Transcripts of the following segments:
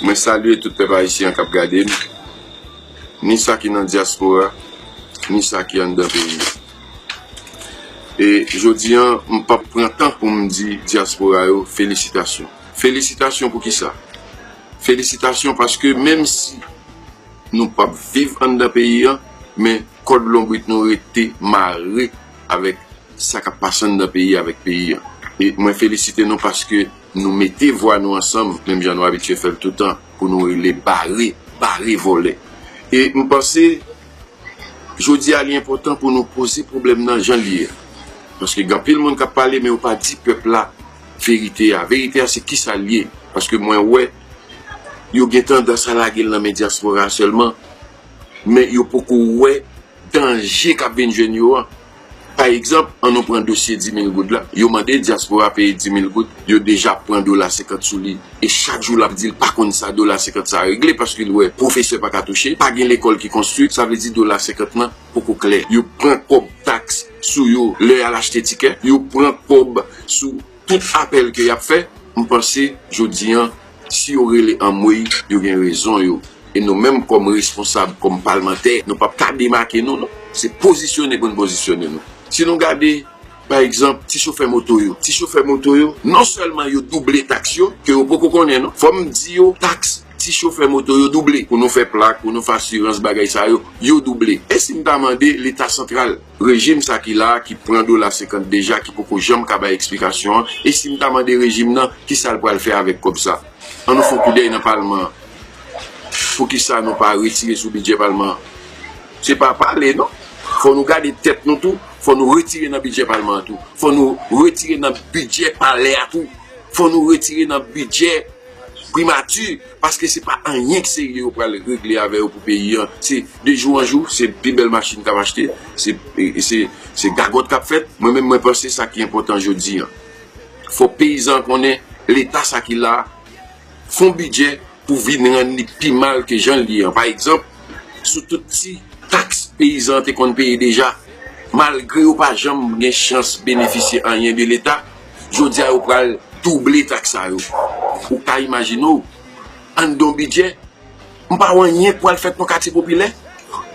Mwen salye tout pèp ayisyen kap gade m, ni sa ki nan dyaspora, ni sa ki anndan peyi. E jodi an, m pap pran tan pou m di dyaspora yo felisitasyon. Felisitasyon pou kisa? Felisitasyon paske menm si. Nou pap viv anndan peyi an, men kòd lonbrit nou rete mare avèk sa k ap pase anndan peyi avèk peyi an. E mwen felisite nou paske nou mete vwa nou ansanm, menm jan nou abitye fè l toutan, pou nou rele bare, bare vòlè. E m panse jodi a li enpòtan pou nou poze pwoblèm nan jan l ye a. Paske gen anpil moun k ap pale men yo pa di pèp la verite a. Verite a se kisa l ye? Paske mwen wè. yo gen tandans a lage l nan men dyaspora a sèlman, men yo poko wè danje k ap vin jwenn yo an. Pa egzanp, an nou pran dosye dimil goud la, yo mande dyaspora a peye dimil goud, yo deja ap pran dola senkant sou li e chak jou l ap di l pa konn sa dola senkant sa a regle paske l wè pwofesè pa ka touche, pa gen lekòl ki konstwi, sa vle di dola senkant lan poko klè. Yo pran kòb taks sou yo lè y al achte tikè, yo pran kòb sou. Tout apèl ke yap fè m panse jodi an si yo rele anmweyy yo gen rezon yo e nou menm kòm responsab kòm palmantè nou pap ka demake nou non se pozisyone pou n pozisyone nou si nou gade pa egzanp ti chofè moto yo ti chofè moto yo non sèlman yo double taks yo ke yo poko konnen non fò m di yo taks ti chofè moto yo double pou nou fè plak pou nou fè asirans bagay sa yo yo double e si m ta mande leta santral. Rejim sa ki la, ki pran dola 50 deja, ki poko janm ka bay eksplikasyon an, e si m ta mande rejim nan, kisa l pral fè avèk kòb sa? An nou fè yon koudèy nan palman an. Poukisa nou pa retire sou bidjè palman an? Se pa pale non. Fò nou gade tèt nou tou, fò nou retire nan bidjè palman an tou. Fò nou retire nan bidjè palè a tou. Fò nou retire nan bidjè. Primati paske se pa anyen serye yo pral regle avè yo pou peyi an se de jou an jou se pi bèl machin kap achte se gagòt kap fèt mwen menm mwen panse sa ki enpòtan jodi an fòk peyizan an konnen leta sa ki la fon bidjè pou vin rann li pi mal ke jan li ye an pa egzanp sou tout ti taks peyizan an te konn peye deja malgre yo pa janm gen chans benefisye anyen de leta. Jodi a yo pral double taks sa yo. Ou ka imajine w, anndan yon bidjè, m pa wè anyen k pral fèt nan katye popilè,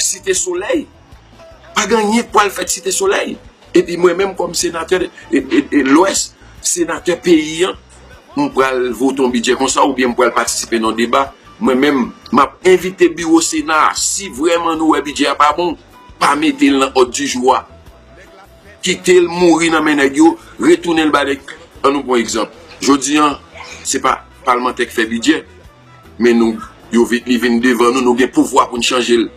Site Solèy. Pa gen anyen k pral fèt Site Solèy. Epi mwen menm kòm senatè Lwès, senatè peyi an, m pral vote yon bidjè konsa oubyen m pral patisipe nan yon deba. Mwen menm, m ap envite biwo Sena a, si vrèman nou wè bidjè a pa bon, pa mete l nan òd di jou a. Kitel mouri nan men nèg yo, retounenl ba nèg an nou pwan egzanp jodi an se pa palmantè k fè bidjè men nou yo vin li vin devan nou nou gen pouvwa poun chanjel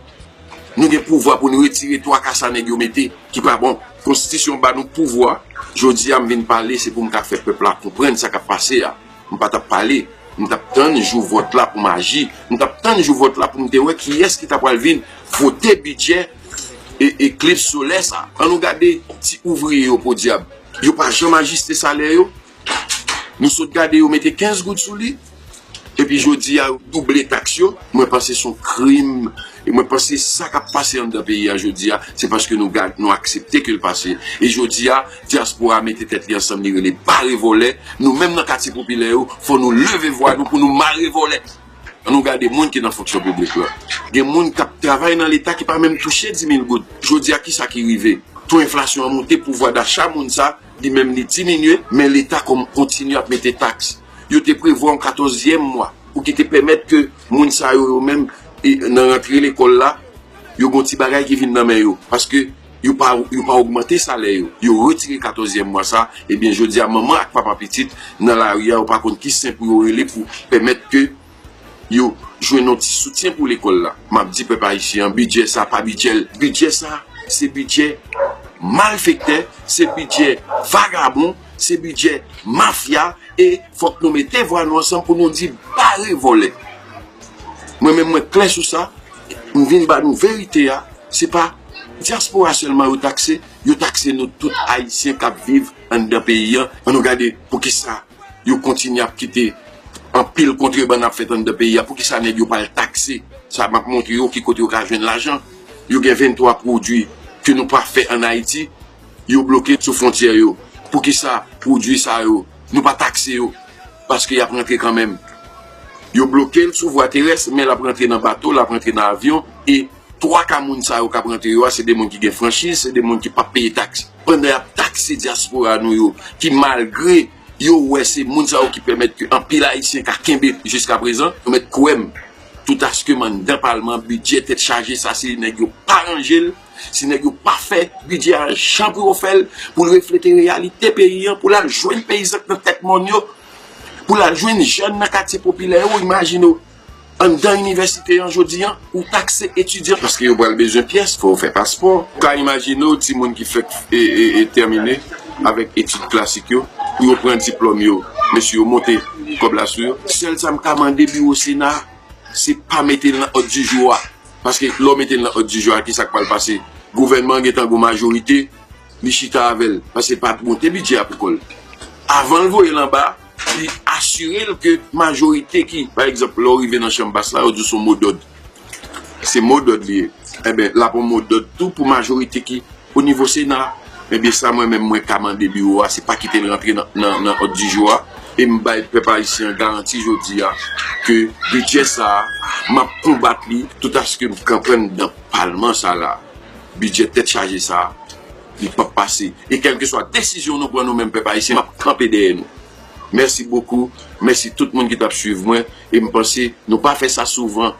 nou gen pouvwa poun retire twa ka sa nèg yo mete ki pa bon konstitisyon ba nou pouvwa jodi a m vin pale se poum ka fè pèp la konprann sa kap pase a. M pa t ap pale. M t ap tann jou vòt la pou m aji. M t ap tann jou vòt la pou m te wè kiyès ki ta pral vin vote bidjè eklips solè sa. An nou gade ti ouvriye yo podyab. Yo pa janm ajiste salè yo. Nou sot gade yo mete 15 goud sou li. Epi jodi a yo double taks yo. Mwen panse son krim. E mwen panse sa k ap pase anndan peyi a jodi a se paske nou aksepte ke l pase. E jodi a. Dyaspora mete tèt li ansanm li rele bare vòlè, nou menm nan katye popilè yo fò nou leve vwa nou pou nou mare vòlè. An nou gade moun ki nan fonksyon piblik lan. Gen moun k ap travay nan leta ki pa menm touche di mil goud. Jodi a kisa ki rive? To enflasyon an moute, pouvwa dacha moun sa li menm li diminye men leta kontinye ap mete taks. Yo te prevwa yon katòzyèm mwa pou ki te pèmèt ke moun sa yo yo menm nan rantre lekòl la yo gen yon ti bagay ki vin nan men yo paske yo pa yo pa ogmante salè yo, yo retire katòzyèm mwa sa, ebyen jodi a manman ak papa pitit nan lari a yo pa konn ki sen pou yo rele pou pèmèt ke yo jwenn yon ti soutyen pou lekòl la, m ap di pèp ayisyen an bidjè sa pa bidjè l, bidjè sa se bidjè malfektè, se bidjè vagabon. Se bidjè mafya e fok nou mete vwa nou ansanm pou nou di bare vole. Mwen menm mwen kle sou sa, m vin ba nou verite a, se pa diaspora selman yo takse, yo takse nou tout ayisyen kap viv anndan peyi an, an nou gade poukisa yo kontinye ap kite anpil kontrebann ap fet anndan peyi a, poukisa neg yo pa al takse sa map montre yo ki kote yo ka jwenn lajan, yo gen 23 pwodwi ke nou pa fe an ayiti. Yo bloke sou fontyè yo. Poukisa pwodwi sa yo nou pa takse yo? Paske y ap rantre kanmenm. Yo bloke l sou vwa terès men l ap rantre nan bato, l ap rantre nan avyon e twa ka moun sa yo k ap rantre yo a se de moun ki gen franchiz, se de moun ki p ap peye taks. Pandan y ap takse dyaspora nou yo ki malgre yo wè se moun sa yo ki pèmèt ke anpil Ayisyen ka kenbe jiska prezan, nou mèt kwè m toutaske m anndan palman bidjè tèt chaje sa se nèg yo pa ranje l. Si nèg yo pa fè bidjè a jan pou yo fè l, pou l reflete reyalite peyi an, pou l al jwenn peyizan k nan tèt mòn yo, pou l al jwenn jèn nan katye popilè yo, imajine w, anndan inivèsite an jodi an, ou takse etidyan paske yo pral bezwen pyès, fò yo fè paspò. Ou ka imajine w timoun ki fèk tèmine avèk etid klasik yo, pou yo pran diplòm yo, mesye yo monte kòb la sou yo. Sèl sa m ka mande biwo sena a, se pa mete l nan òd dijou a. paske lè w mete l nan òd di jou a kisa k pral pase gouvènman an gentan gon majorite li chita avè l paske pa monte bidjè a pou kò l avan l voye l anba li asire l ke majorite ki pa egzanp lè w rive nan chanm bas la yo di w se yon modòd se modòd li ye enben l ap yon modòd tou pou majorite ki O nivo sena, ebyen sa mwen menm mwen ka mande biwo a se pa kite l rantre nan òddijou a e m bay pèp ayisyen an garanti jodi a ke bidjè sa a m ap konbat li toutaske m knprann nan palman sa la bidjè tèt chaje sa a li p ap pase e kèlkeswa desizyon nou pran nou menm pèp ayisyen m ap kanpe dèyè nou. Mèsi bokou, mèsi tout moun ki t ap swiv mwen e m panse nou pa fè sa souvan.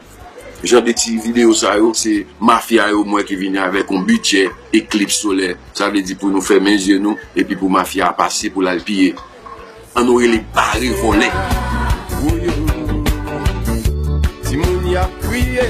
Jan de ti video sa yo se mafya yo m wè ki vini avèk yon bidjè eklips solè. Sa vle di pou nou fèmen zye nou epi pou mafya a pase pou l al piye. An nou rele bare vòlè. Woyoo timoun yap kriye.